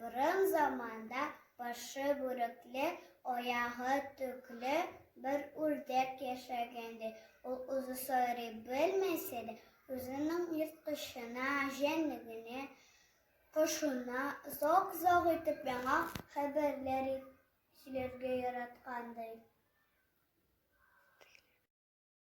Борын заманда башы бүрекле, аягы төкле бер үрдәк яшәгән ди. Ул үзе сайрый белмәсә дә, үзенең ерткычына, җәнлегенә, кошына зак-зак итеп яңа хәбәрләр сөйләргә яраткан ди.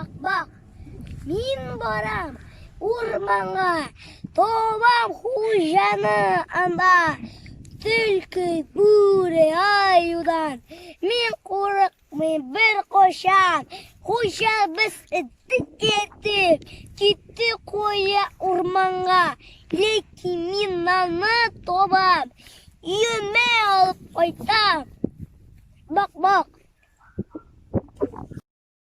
Бак, бак, мин барам урманга, табам хуҗаны анда. Төлке, бүре, аюдан мин курыкмыйм беркайчан. Хуҗабыз эттек итеп, китте кая урманга. Ләкин мин нанны табам, өемә алып кайтам. Бак, бак.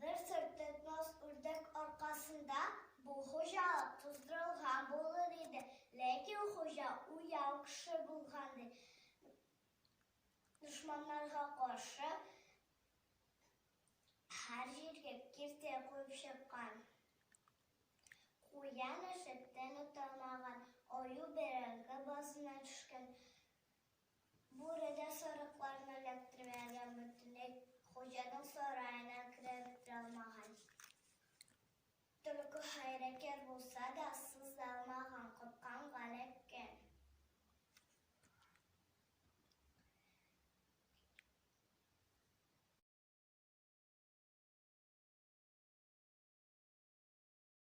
Бер сорт этнос үрдәк аркасында бу хуҗалык туздырылган булыр иде, ләкин хуҗа уяу кеше булган, ди. Дошманнарга каршы һәр җиргә киртә куеп чыккан. Куян эчеп тәне таймаган, аю бәрәңге базына төшкән. Бүре дә сарыкларны эләктермәгән, бөтенләй хуҗаның сараена кереп тә алмаган. Төлке хәйләкәр булса да, суза алмаган, курккан, галеккән.